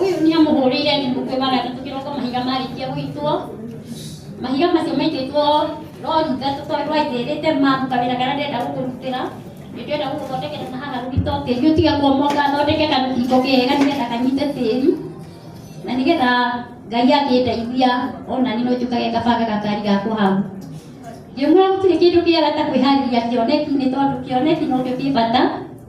Uyu ni amuhurire ni mukwe wa gatatu kiroko mahiga marikia gwitwo mahiga macio maitĩtwo rori ithatũ tondũ aithĩrĩte mamu kawĩra karĩa ndĩrenda gũkũrutĩra nĩ ndĩrenda gũgũthondekera na haha rugito tĩri ũtiga kuomoka thondeke karũthingo kega nĩgetha kanyite tĩri na nĩgetha ngai angĩndeithia onani no njũkage kabanga gakari gakwa hau ngĩmwĩra gũtirĩ kĩndũ kĩega ta kwĩharĩria kĩoneki nĩ tondũ kĩoneki nokĩo kĩ bata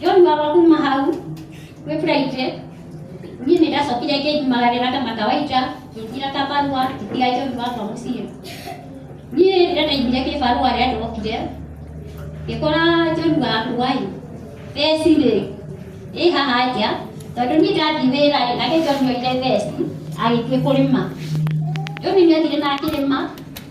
John baba kuma hau kwĩ Friday niĩ nĩ ndacokire ngĩngimagarĩra kama kawaida ngĩtira kabarua ngĩtiga John baba mũciĩ niĩ rĩrĩa ndaigire kĩbarua rĩa ndokire ngĩkora John wakwa ĩ theci rĩ ĩ haha nja tondũ niĩ ndathiĩ wĩra rĩ nake John oire theci agĩthiĩ kũrĩma John nĩ athire na akĩrĩma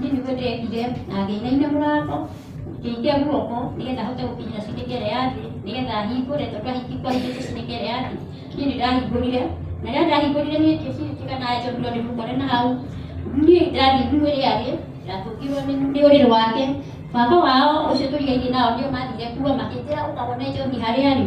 Niĩ nĩguo ndekire na ngĩinaina mũrango, ngĩikia guoko nĩgetha hote gũkinyĩra ciringi ĩrĩa ya thĩ nĩgetha hingũre tondũ ahingi kwahingĩte ciringi ĩrĩa ya thĩ. Niĩ nĩ ndahingũrire na rĩrĩa ndahingũrire niĩ ngĩciĩtĩka na njombirwo nĩ mũkore na hau. Niĩ ndathiĩ nguo ĩrĩa yarĩ ndatũngirwo nĩ nĩ ũrĩrĩ wake. Baba wao ũcio tũrigainie nao nĩo mathire kuo makĩnjĩra ũkagũre njohi harĩa arĩ.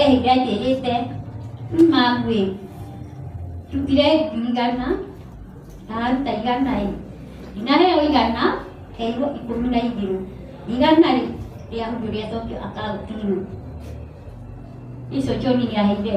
ehiga njĩrĩte magwĩ ndutire ngiri igana ndaruta igana ĩ ndinaheo igana heirwo ikũmi na igĩrĩ igana rĩ rĩa hundo rĩacokio akaunti-inĩ icio John nĩaheire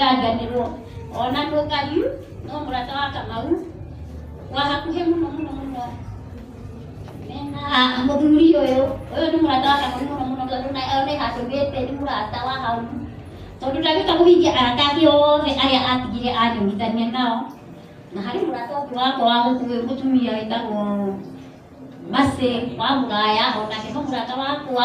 ndĩranganĩrwo ona ndũngariu no mũrata wa kamau wa hakuhĩ mũno mũno mũno mũthuri ũyũ ũyũ nĩ mũrata wa kamũri mũno mũno tondũ na nĩ hatũgĩte nĩ mũrata wa hau tondũ ndagĩka kũhingia arata ake othe arĩa atigire anyuithania nao na harĩ mũrata ũngĩ wakwa wa gũkuĩ mũtumia wĩtagwo Mercy wa mũraya onake nĩ mũrata wakwa